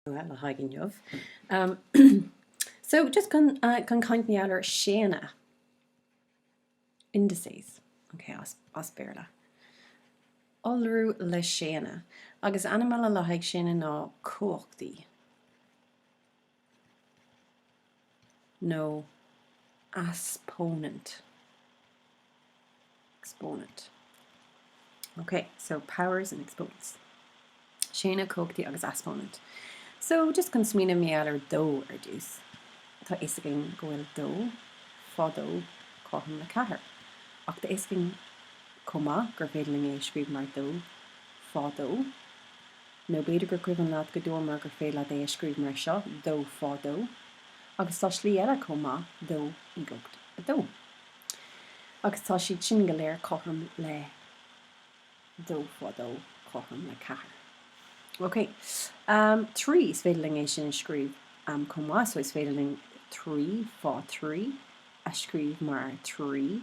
Well, le haghaidh inniu. So, just chun caint mar gheall ar séana. Indices. Ok, as Béarla. Iolrú le séana. Agus ainm eile le haghaidh séana ná cumhachtaí. nó easpónant, exponent. Ok, so powers and exponents. Séana, cumhachtaí agus easpónant. So, just chun smaoineamh mar gheall ar dó ar dtús. Tá fhios againn go bhfuil dó, fá dó, cothrom le ceathair. Ach tá fhios againn chomh maith gur féidir linn é a scríobh mar dó, fá dó. nó b'fhéidir gur cuimhin leat go ndúirt mé gur féidir leat é a scríobh mar seo, dó fá dó, agus tá slí eile chomh maith, dó i gcumhacht a dó. Agus tá siad sin go léir cothrom le dó fá dó cothrom le ceathair. Ok. Trí, is féidir linn é sin a scríobh chomh maith, so is féidir linn trí fá thrí a scríobh mar trí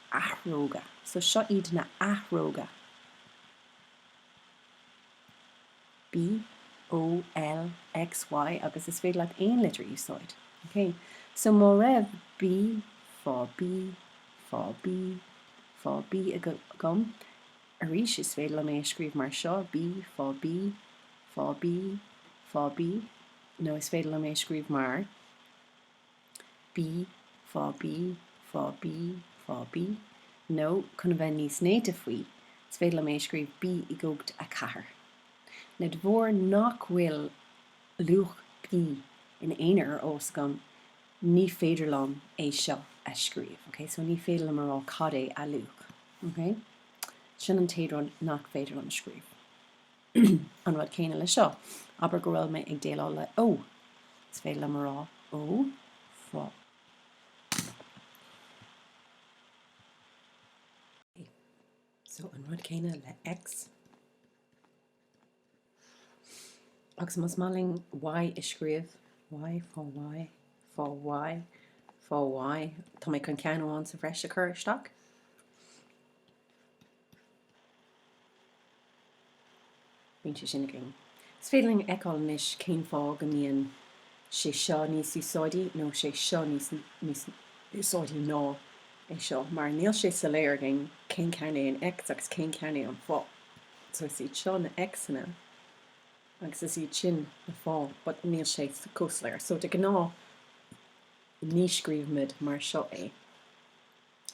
athróga. So seo iad na athróga. B, O, L, X, Y agus is féidir leat aon litir a úsáid. OK? So má raibh B, fá B, fá B, fá B agam, arís is féidir liom é a scríobh mar seo, B, fá B, fá B, fá B nó is féidir liom é a scríobh mar. B fá B fá B fá B nó chun a bheith níos néata faoi, is féidir liom é a scríobh B i gcumhacht a 4. Now de bharr nach bhfuil luach B in aon chor ar eolas againn, ní féidir liom é seo a scríobh, ok? So ní féidir liom a rá cad é a luach, ok? Sin an t-aon rud nach féidir liom a scríobh. An rud céanna leis seo. Abair go bhfuil mé ag déileáil le O. Is féidir liom a rá O fá. So an rud céanna le X. Agus más maith linn Y a scríobh, Y fá Y, fá Y, fá Y, tá mé chun ceann amháin sa bhreis a chur isteach. Bíonn sé sin againn. Is féidir linn a fheiceáil anois cén fáth go mbíonn sé seo níos úsáidí nó sé seo níos níos úsáidí ná é seo, mar níl sé soiléir againn cén ceann é an X agus cén ceann é an fá. So is iad seo na X'anna agus is iad sin na fá but níl sé chomh soiléir. So de ghnáth ní scríobhaimid mar seo é.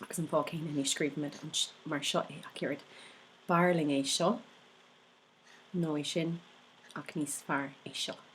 Agus an fáth céanna ní scríobhaimid mar seo é ach oiread, b'fhearr linn é seo, nó é sin, ach níos fearr é seo.